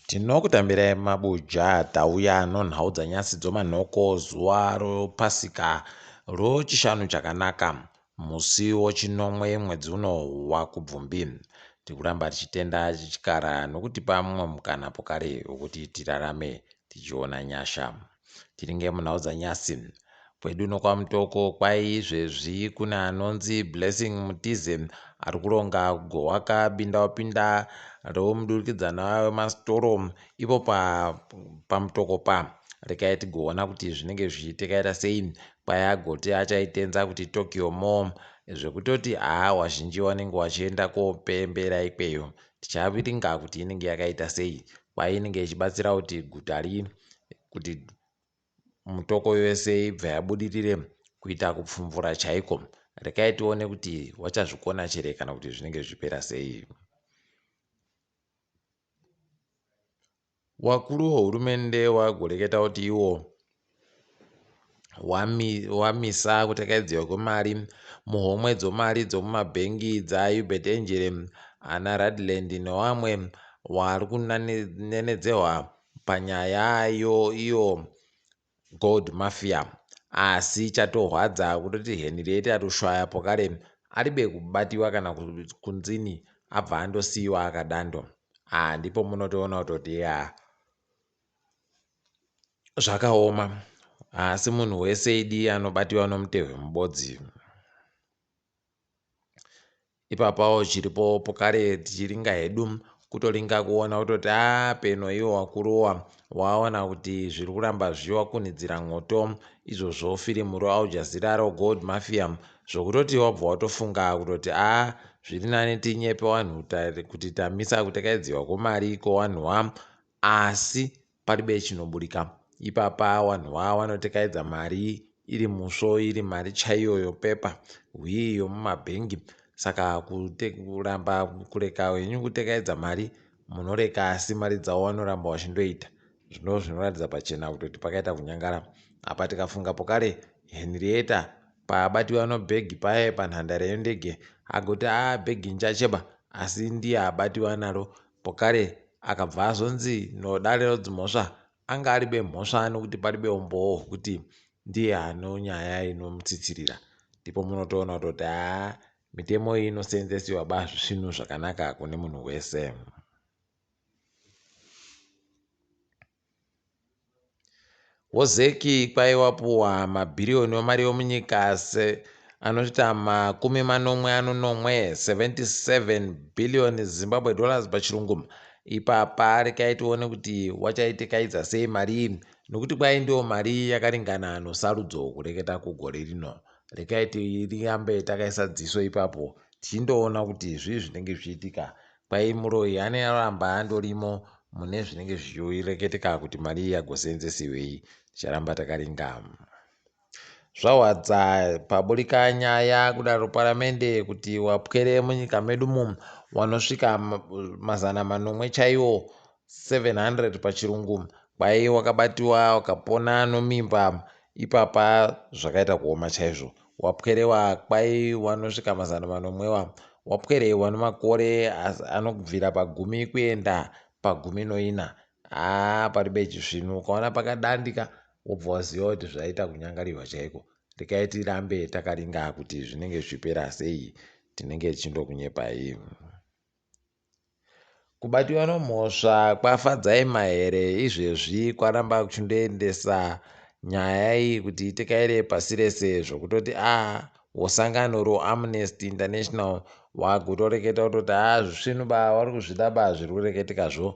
tinokutambirai mabuja tauya anonhaudza nyasi dzomanhoko zuva ropasika rochishanu chakanaka musi wochinomwe mwedzi uno wakubvumbi tikuramba tichitenda chikara nokutipa mumwe mukana pokare wokuti tirarame tichiona nyasha Tiringe munhaudza nyasi. Kwedu uno kwaMutoko kwai izvezvi kune anonzi Blessing Mutize ari kuronga kugohwaka bindawapinda romudurikidzanwa wemasitoro ipo pa, paMutoko pa. Rekai tigoona kuti zvinenge zvichitikaita sei kwai agoti achaitenza kuti Tokyo Mall zvekutoti haa wazhinji wanenge wachienda kopembera ikweyo. Tichaviringa kuti inenge yakaita sei kwaye inenge ichibatsira kuti guta rii kuti mutoko yose ibva yabudirire kuita kupfumvura chaiko rekai tione kuti wachazvikona chere kana kuti zvinenge zvipera sei wakuru wehurumende wagoreketa kuti iwo wamisa kutekaidzirwa kwemari muhomwe dzomari dzomumabhengi dzaUbert Angel, ana Radland nevamwe vari kunenedzehwa panyaya iyo Gold Mafia. Asi chatorwadza kutoti Henrietta Rushwaya pokare aribe kubatiwa kana kunzini abva andosiiwa akadando. Ah ndipo munotoona kutoti yaa. zvakaoma haasi munhu wese idi anobatiwa nomutehwe mubodzi ipapawo chiripo pokare tichiringa hedu kutoringa kuona kutoti a ah, peno iwo wakurowa waona kuti zviri kuramba zvichiwakunhidzira mwoto izvozvo firimu roaljazira rogold mafia zvokutoti wabva watofunga kutoti a ah, zviri nani tinyepe wanhu kuti tamisa kutekaidziwa kwomari iko wanhuwa Asi paribe chinoburika ipapa wanhu wawa wanotekaedza mari iri musvo iri mari chaiyo yopepa hwii yomumabhengi saka kuramba kureka henyu kutekaedza mari munoreka asi mari dzawo wanoramba wachindoita zvino zvinoratidza pachena kutoti pakaita kunyangara apa tikafunga pokare henrieta paabatiwa nobhegi paye panhandare yendege agoti aa bhegi nchacheba asi ndiye abatiwa naro Pokare akabva azonzi nodare rodzimhosva anga ari bemhosva nekuti pari beumbowo hwekuti ndiye ano nyaya inomutsitsirira. Ndipo munotoona kutoti haa mitemo iyi inoseenzesiwa ba zvisvinu zvakanaka kune munhu wese. Wozeki kwaiva wapuwa mabhiriyoni wemari yomunyika ase anoita makumi manomwe anonomwe 77 billion Zimbabwe dollars pachirungu ipapa rikaitione kuti wachaitikaidza sei mari iyi nokuti kwai ndiyo mari yakaringana nosarudzo kureketa kugore rino rikaiti rirambe takaisa dziso ipapo tichindoona kuti zvii zvinenge zvichiitika Kwai muroyi ane aramba andorimo mune zvinenge zvichireketeka kuti mari iyi yagoseenzesiwei ticharamba takaringama. Zvawadza paburika nyaya kudaro paramende kuti wapwere munyika medu umu wanosvika mazana manomwe chaiwo 700 pachirungu kwaye wakabatiwa wakapona nomimba ipapa zvakaita kuoma chaizvo wapwerewa kwai wanosvika mazana manomwewa wapwerewa nomakore anokubvira pagumi kuenda pagumi noina haa pari beji svinu ukaona pakadandika wobva waziva kuti zvaita kunyangarirwa chaiko rekai tirambe takaringa kuti zvinenge zvichipera sei tinenge tichindokunyepai Kubatiwa nomhosva kwaFadzai Mahere izvezvi kwaramba kuchindoendesa nyaya iyi kuti itekaire pasi rese zvokutoti a ah, wosangano roamnesty international wakutoreketa kutoti a ah, zvisvinu ba wari kuzvida ba zviri kureketeka zvo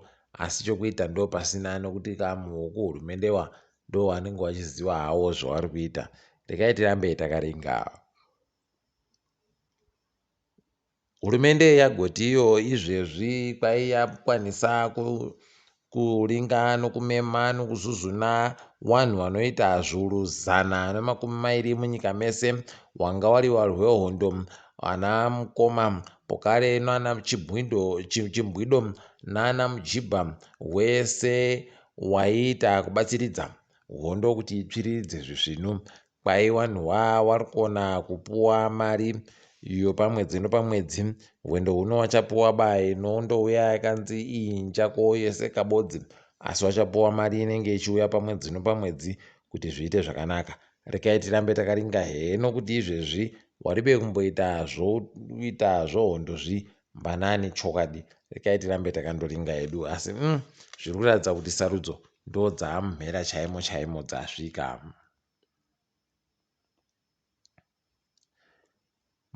asi chokuita ndo pasina nokuti kamuoko hurumende wa ndo wanenge wachiziva hawo zvavari kuita rekai tirambe takaringa Hurumende yagoti iyo izvezvi kwai yakwanisa kuringa nokumema nokuzuzuna wanhu wanoita zvuru zana nemakumi mairi munyika mese wanga wari warwehondo ana mukoma pokare nana chibwido chimbwido nana mujibha wese waiita kubatsiridza hondo kuti itsviriridze zvisvinu Kwai wanhu waa warikona kupuwa mari yopamwedzi nopamwedzi hwendo huno wachapuwa by no ndouya yakanzi inja ko yese kabodzi asi wachapuwa mari inenge ichiuya pamwedzi nopamwedzi kuti zviite zvakanaka rekai tirambe takaringa heno kuti izvezvi waribe kumboita zvoita zvohondo zvi mbanani chokwadi rekai tirambe takandoringa hedu asi mm, zviri kuratidza kuti sarudzo ndo dzaamumhera chaimo chaimo dzasvika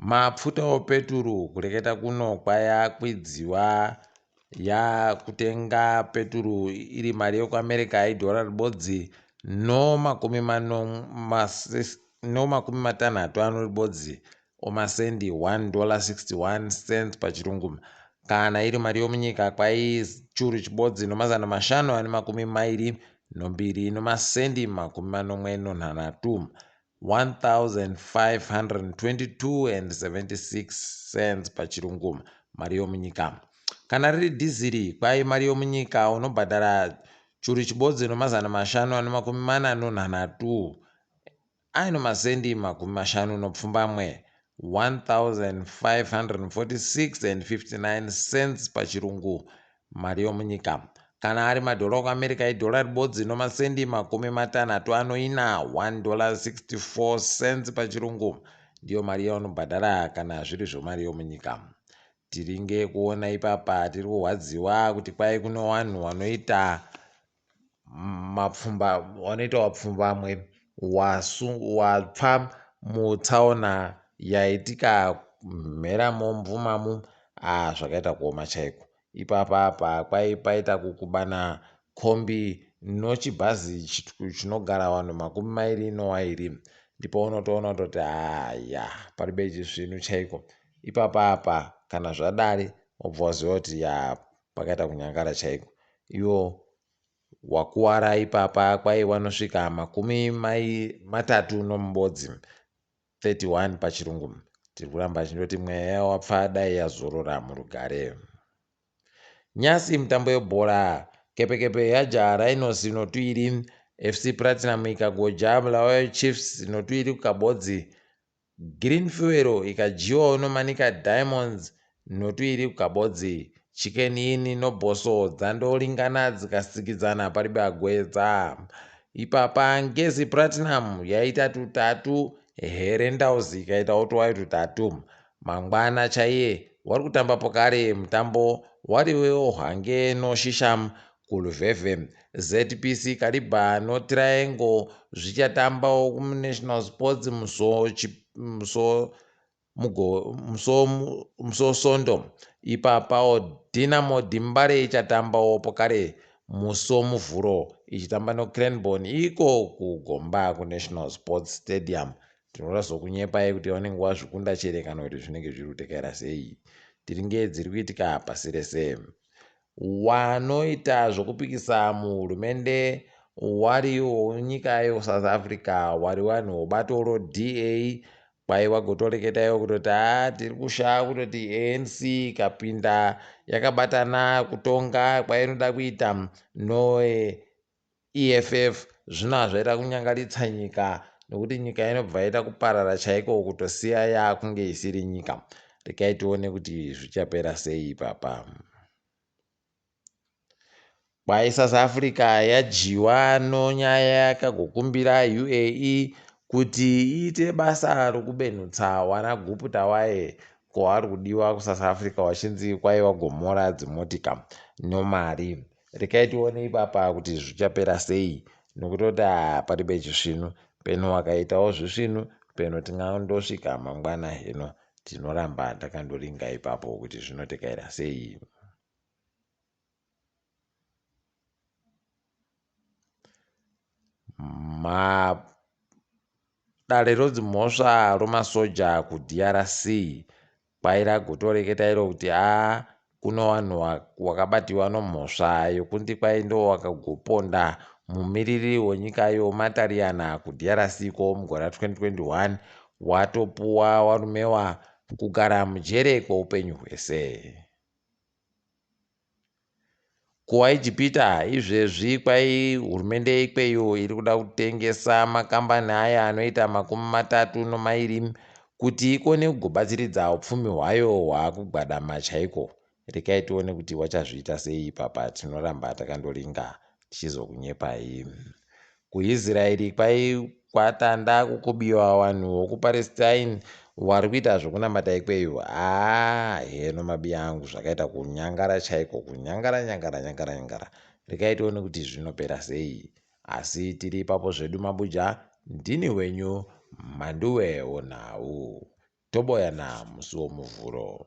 Mapfuta opeturu kureketa kuno kwaya kwidziwa yakutenga peturu iri mari yekuAmerica idhora ribodzi no makumi matanhatu ano ribodzi or masendi 1 dollar 61 cents pachirungu kana iri mari yomunyika kwaichuru chibodzi nomazana mashanu ane makumi mairi nombiri nomasendi makumi manomwe nonhanhatu 1522 and 76 cents pachirungu mari yomunyika kana riri dhiziri kwai mari yomunyika unobhadhara churu chibodzi nomazana mashanu ane makumi mana nonhanhatu Aino masendi makumi mashanu nopfumbamwe, 1546 and 59 cents paChirungu, mari yomunyika. Kana ari madhora okuAmerica idhora ribodzi nomasendi makumi matanhatu anoina, 1 dollar 64 cents paChirungu, ndiyo mari yaunobhadhara kana zviri zvomari yomunyika. Tiringe kuona ipapa tiri kurwadziwa kuti kwai kuno wanhu wanoita mapfumba wanoita wapfumbamwe wasu wapfa mutsaona yaitika mhera momvumamu a ah, zvakaita kuoma chaiko ipapa pa kwai paita kukubana kombi nochibhazi chinogara vanhu makumi mairi nowairi ndipo unotoona kutoti haya pari beji svinu chaiko ipapa apa kana zvadari obva waziva kuti ya Pakaita kunyangara chaiko. Iwo wakuwara ipapa kwai wanosvika makumi mai matatu nomubodzi 31 pachirungu tiri kuramba achindoti mweya yawapfa dai yazorora murugare nyasi mutambo yebhora kepekepe yajaha rhinos notwiri fc platinum ikagoja bulawayo chiefs notwiri kukabodzi Green fuel ikadyiwa unomanika diamonds notu iri kukabodzi. Chicken inn no bosso dzandoringana dzikasikidzana paribe agwedza. Ipapa ngezi platinum yaita tutatu here ndauzi ikaitawo twayo tutatu. Mangwana chaiye wari kutambapo kare mutambo wari wehwange no shisham Kuluveve, ZPC Kariba no Triangle zvichatambawo kuMunational Sports muso chi, muso mugo muso muso sondo ipapawo Dynamo Dimbare ichatambawo pokare muso muvhuro ichitamba noCranborn iko kuGomba kuNational Sports Stadium tinoda zvokunyepai kuti vanenge wazvikunda chere kana kuti zvinenge zviri kutekaira sei tiri ngei dziri kuitika pasi rese Wanoita zvokupikisa muhurumende wari wonyika yeSouth Africa wari wani wobato ro DA kwai wagotoreketa iwo kutoti haa tiri kushaa kutoti ANC ikapinda yakabatana kutonga kwainoda kuita noe EFF zvino hazvaita kunyangaritsa nyika nokuti nyika inobva yaita kuparara chaiko kutosiya yaakunge isiri nyika. Regai tione kuti zvichapera sei ipapa. Kwai South Africa yadyiwa nonyaya yakagokumbira UAE kuti iite basa rokubenutsa wana guputa waye ko ari kudiwa kuSouth Africa wachinzi kwai wagomora dzimotika nomari. rekai tione ipapa kuti zvichapera sei nokuti kuti ah, pari pechisvinu peno wakaitawo zvisvinu peno tingandosvika mangwana hino tinoramba takandoringa ipapo kuti zvinotekaira sei ma Dare rodzimhosva romasoja kuDRC kwai ragotoreketa iro kuti haa kuno vanhu wakabatiwa nomhosva yokunzi kwai ndo wakagoponda mumiriri wenyika yo Matariyana kuDRC ko mugore 2021 watopuwa warumewa kugara mujere kweupenyu hwese. KuIjipita izvezvi kwai hurumende yekweyo iri kuda kutengesa makambani aya anoita makumi matatu nomairi kuti ikone kugobatsiridza upfumi hwayo hwaakugwadama chaiko. Rekai tione kuti wachazviita sei ipapa tinoramba takandoringa. tichizokunyepai kuisraeri kwai kwatanda kukubiwa vanhu vokupalestine wari kuita zvokunamata ikweyo haa heno mabi angu zvakaita kunyangara chaiko kunyangara nyangara nyangara nyangara regai tione kuti zvinopera sei asi tiri ipapo zvedu mabuja ndini wenyu manduwe onhau toboyana musi womuvhuro